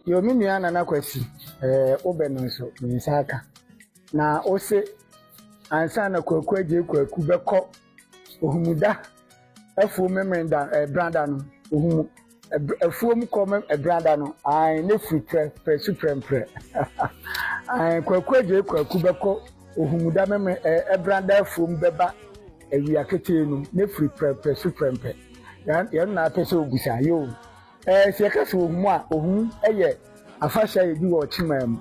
Yo me nua Nana Kwasi, eh, wo bɛ no nso me nsa aka. Na wo se ansa na Kwaku Agye Kwaku bɛkɔ Ohumuda afuo memenda eh, brada no, Ohumu afuo mu kɔ eh, brada no, ae ne firi prɛ prɛ su prɛmprɛ. ae Kwaku Agye Kwaku bɛkɔ Ohumuda memre eh, eh, brada afuo mu bɛba awia ketee no, ne firi prɛ prɛ su prɛmprɛ. Yɛn na apɛ sɛ obusa, yoo. Sɛ yɛka sɛ ohu a, ohu yɛ afahyɛ a yɛdi wɔ ɔkyemaa mu.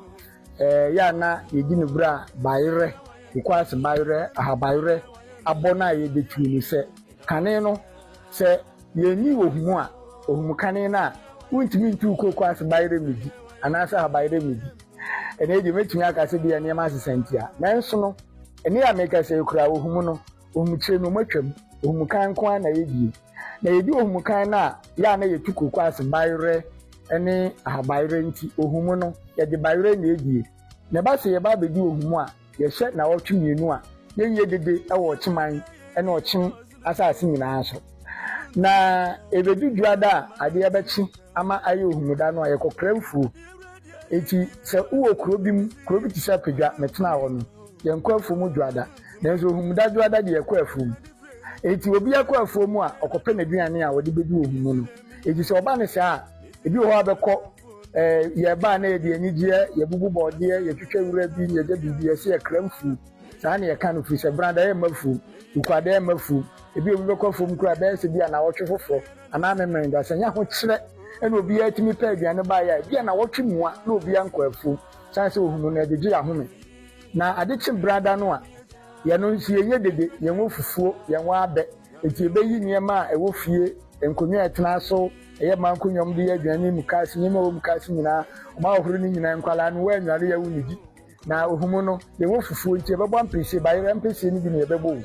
Ɛyɛ a na yɛdi no berɛ a bayerɛ, kokoase bayerɛ, ahabayerɛ abɔ no a ɛyɛ dɛ tuo no sɛ kane no. Sɛ yɛnni ohu a, ohu kane no a, wontumi ntu kokoase bayerɛ mmɛdi anaasɛ ahabayerɛ mmɛdi. Ɛnnɛ deɛ mɛtumi aka sɛ bia nneɛma asesa ntia. Nanso no, ɛnnɛ a meka sɛ yɛkura ohu no, ohu kyerɛ no matwam, ohu kane nko ara na yɛdie. Na yɛdi ohum kan no a, yɛ a na yɛtu kokoase bayerɛ ne ahabayerɛ nti, ohum no, yɛde bayerɛ na edie. Na ɛba sɛ yɛba abɛdi ohum a, yɛhyɛ nnawɔtwe mmienu a yɛnyɛ dede wɔ ɔkyeman ne ɔkyem asase nyinaa so. Na ɛbɛdu dwoada a adeɛ bɛkye ama ayɛ ohum da no a, yɛkɔkra mfuo. Enti sɛ wowɔ kuro bi mu, kuro bi te sɛ Apadwa, metenaa hɔ no, yɛnkɔ afuom dwoada. Nanso ohum da dwoada deɛ, yɛkɔ afuom. Enti obiara kɔ afuo mu a, ɔkɔpɛ n'aduane a ɔde bɛdi wɔ ho mu no. Enti sɛ ɔba no saa a, ebi wɔ hɔ a bɛkɔ eh, yɛba a na yɛde anigyeɛ, yɛbubu bɔɔdeɛ, yɛtwitwa wura bi, na yɛgya biribi, yɛsɛ yɛkra mfuo. Saa na yɛka no firi sɛ brada yɛ mma fuom, wukwada yɛ mma fuom. Ebi obi bɛkɔ afuom koraa bɛyɛ sɛ bi anawɔtwe foforɔ anaa memerenda. Sɛ nyɛ ahokyerɛ na obiara tumi pɛ aduane baeɛ a, ebi anawɔtwe mua na obiara nkɔ afuom, sane sɛ ɔhunu no ɛgyegye ahome. Na ade kye brada no a, yɛno nso yɛyɛ dede, yɛwɔ fufuo, yɛwɔ abɛ, enti yɛbɛyi nneɛma a ɛwɔ fie, nkonnwa a yɛtena so, ɛyɛ mmaa nkonnwa a wɔde yɛ aduane ne mukaase, nneɛma a ɛwɔ mukaase nyinaa, wɔn ahohoro no nyinaa, nkwadaa no, wɔanware yɛ wɔnnidi. Na ohum no, yɛwɔ fufuo nti yɛbɛbɔ ampesie, bayerɛ ampesie no bi na yɛbɛbɔ o,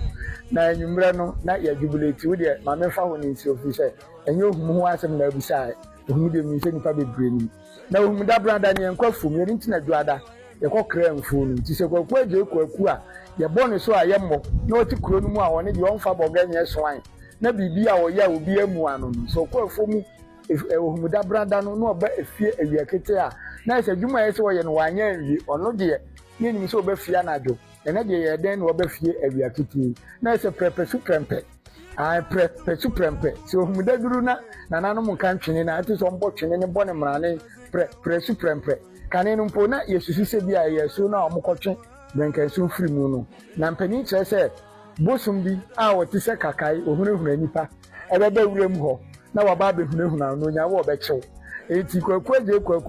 na anwummerɛ no na yɛajubilate, wo deɛ ma memfa ho no nsi hɔ, ɛfiri sɛ ɛnyɛ ohum ho asɛm na wobisaeɛ, ohum deɛ menim sɛ nnipa bebree nim. Na ohum da bran da ne yɛn nkwa fom yɛn nti na dwoada yɛkɔ kra mfuo no nti sɛ kwaku agye kwaku a yɛbɔ ne so a yɛ mmɔ na ɔte kuro no mu a ɔne deɛ ɔnfa bɔga nyɛ soan na biribi a ɔyɛ a obi ammua no no sɛ ɔkɔ afuo mu ɛ ohum da bran da no na ɔba efie awia ketee a na ayɛ sɛ adwuma a ɛsɛ ɔyɛ no wanyɛ anwie ɔno deɛ yɛnnim sɛ ɔba fie anadwo Ɛnnɛ deɛ ɛyɛ dɛn na wɔba fie awia ketee na ayɛ sɛ prɛpɛ su prɛmpɛ. Ae prɛpɛ su prɛmpɛ. Sɛ ohum daduru na nananom nka ntwene na ɛte sɛ ɔmbɔ twene ne bɔ ne mmrane prɛpɛ su prɛmpɛ. Kane no mpo, na yɛsusu sɛ bi a ɛyɛ asuo no a wɔkɔtwe brɛnkɛnso firi mu no. Na mpanin kyerɛ sɛ bosom bi a ɔte sɛ kakae, ɔhunahuna nnipa, ɛbɛba wuram hɔ na waba abɛhunahuna no na ɔnya wo a ɔbɛkye wo. Enti Kwaku agye Kwaku.